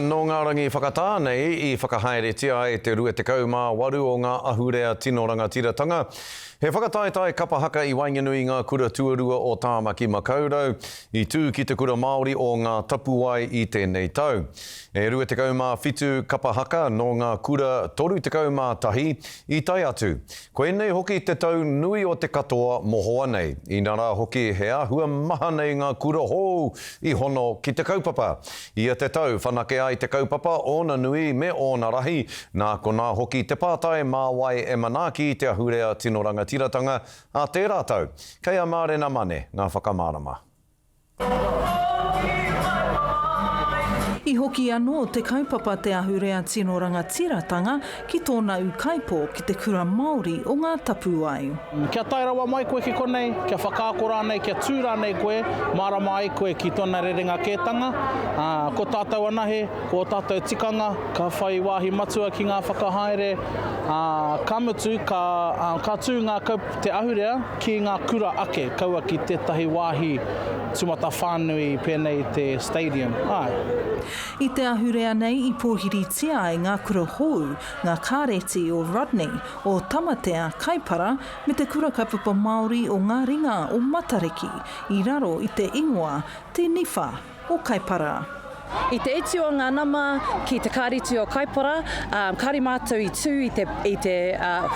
Nō ngā rangi whakatā nei i whakahaeretia ai te 28 o ngā ahurea tino rangatiratanga. He whakataetae kapa haka i waenganui i ngā kura tuarua o Tāmaki Makaurau i tū ki te Kura Māori o Ngā Tapuwae i tēnei tau. E 27 kapa haka nō ngā kura 31 i tae atu Koinei hoki te tau nui o te katoa mohoa nei, ina rā hoki he āhua maha nei ngā kura hou i hono ki te kaupapa. Ia te tau whanake ai te kaupapa ōna nui me ōna rahi, nā konā hoki te pātai mā wai e manaaki te ahurea tino rangatiratanga a tērā tau. Kei a Mārena Mane ngā whakamārama. I hoki anō te kaupapa Te Ahurea Tino Rangatiratanga ki tōna ūkaipō ki te kura Māori o Ngā Tapuwae. Kia tae rawa mai koe ki konei, kia whakaako rānei, kia tū rānei koe, mārama ai koe ki tōna rerenga kētanga, ā, ko tātou anahe, ko ō tātou tikanga, ka whai wāhi matua ki ngā whakahaere, ā, ka mutu, ka, ā, ka tū ngā kaupapa. Te ahurea ki ngā kura ake kaua ki tētahi wāhi tūmatawhānui pēnei i te Stadium, āe. I te ahurea nei i pōhiritia ai ngā kura hou, ngā kāreti o Rodney, o Tamatea, Kaipara, me te kura kaupapa Māori o ngā ringa o Matariki, i raro i te ingoa Te Niwha. o Kaipara. I te utu o ngā nama ki te Kāreti o Kaipara, kāore mātou i tū i te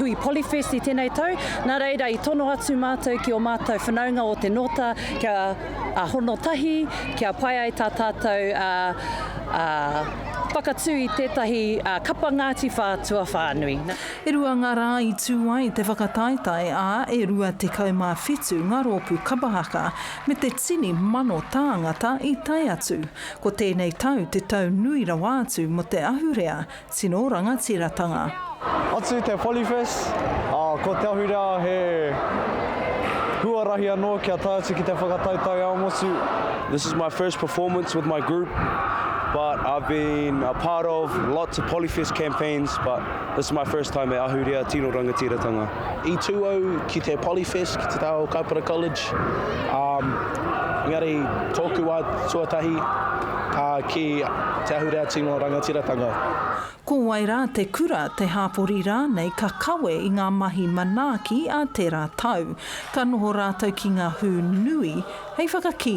hui Polyfest i tēnei tau, nā reira i tono atu mātou ki ō mātou whanaunga o te Nōta kia hono tahi, kia pai ai tā tātou whakatū i tētahi kapa Ngāti Whā tuawhānui. E rua ngā rā i tū ai te whakataetae, ā, e 27 ngā rōpū kapa haka me te tini mano tāngata i tae atu, ko tēnei tau te tau nui rawa atu mō te ahurea tino rangatiratanga. Atu te Polyfest, ā, ko te ahurea he huarahi anō kia tae atu ki te whakatau taiao motu. This is my first performance with my group but I've been a part of lots of Polyfest campaigns but this is my first time e ahurea tino rangatiratanga. I tū au ki te Polyfest, ki te taha o Kaupara College, ā, engari tōku wā tuatahi ki Te Ahurea Tino Rangatiratanga. Ko wai rā te kura, te hāpori rānei ka kawe i ngā mahi manaaki a tērā tau. Ka noho rātou ki ngā hū nui hei whakakī.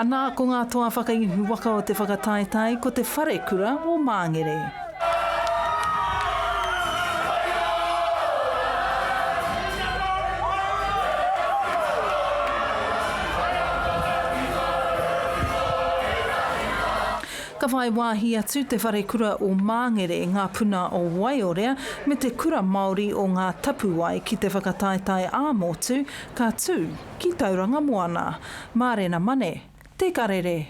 Anā ko ngā toa whakaihu waka o te whakataetae ko te Wharekura o Māngere. Ka whai wāhi atu te Wharekura o Māngere, ngā puna o Waiorea me te Kura Māori o Ngā Tapuwae ki te whakataetae ā-motu Ka tū ki Tauranga Moana. Mārena Mane, Te Karere.